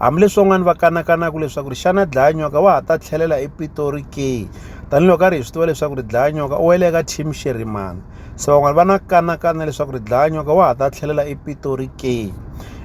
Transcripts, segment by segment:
Hambileswi van'wana va kanakanaka leswaku ri xana dlayanyoka wa ha ta tlhelela epitori ke tanihiloko karhi hi swi tiva leswaku ri dlayanyoka u wele eka team xerimana se van'wana va na kanakana leswaku ri dlayanyoka wa ha ta tlhelela epitori ke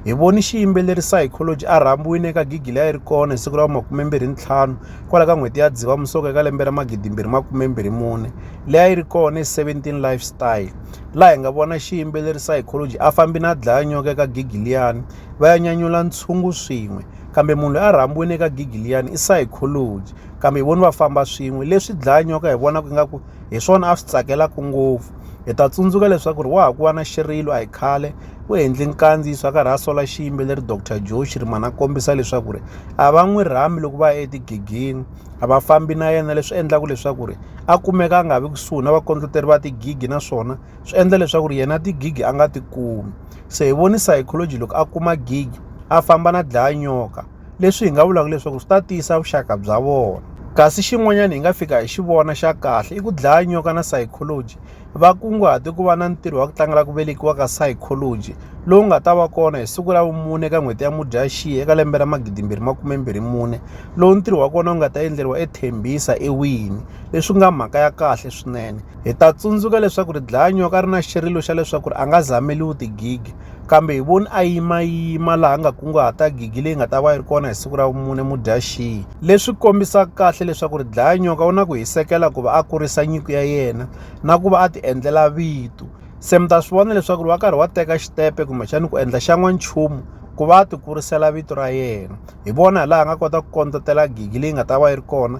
hi voni xiyimbeleri psychology a rhambiwile eka gigi leyi a yi ri kona hi siku ra makumembirhi ntlhanu kwala ka n'hweti ya dziva musoka eka lembe ra magidimbirhi makumembirhi mune leyi a yi ri kona hi 17 lifestyle laha hi nga vona xiyimbeleri psychology a fambi na dlayanyoka eka gigi liyani va ya nyanyula ntshungu swin'we kambe munhu loyi a rhambiwile eka gigi liyani i psychology kambe hi voni va famba swin'we leswi dlaya nyoka hi vonaka ingaku hi swona a swi tsakelaka ngopfu hi ta tsundzuka leswaku ri wa ha ku va na xirilo a hi khale u endle nkandziyiso a karhi a sola xiyimbeleri dr joe xirimana a kombisa leswaku ri a va n'wi rhambi loko va ya etigigini a va fambi na yena leswi endlaka leswaku ri a kumeka a nga vi kusuhi na vakondleteri va tigigi naswona swi endla leswaku ri yena tigigi a nga ti kumi se hi voni psychology loko a kuma gig a famba na dlaya nyoka leswi hi nga vulaka leswaku swi ta tiyisa vuxaka bya vona kasi xin'wanyana hi nga fika hi xi vona xa kahle i ku dlaya nyoka na psychology va kunguhate ku va na ntirho wa ku tlangela ku velekiwa ka psychology lowu nga ta va kona hi siku ra vumune ka n'hweti ya mudyaxihi eka lembe ra magidimbirhi makumembirhi mune lowu ntirho wa kona wu nga ta endleriwa ethembisa ewini leswi nga mhaka ya kahle swinene hi ta tsundzuka leswaku ri dlaya nyoka ri na xirilo xa leswaku ri a nga zameliwi tigigi kambe hi voni a yimayima laha nga kunguhata gigi leyi nga ta va yi ri kona hi siku ra vumune mudyaxihi leswi kombisaka kahle leswaku ri dlaya nyoka u na ku hisekela ku va a kurisa nyiko ya yena na ku va a ti endlela vito se mi ta swi vona leswaku ri wa karhi wa teka xitepe kumbexani ku endla xa n'wanchumu ku va a ti kurisela vito ra yena hi vona hi laha a nga kota ku kondletela gigi leyi nga ta va yi ri kona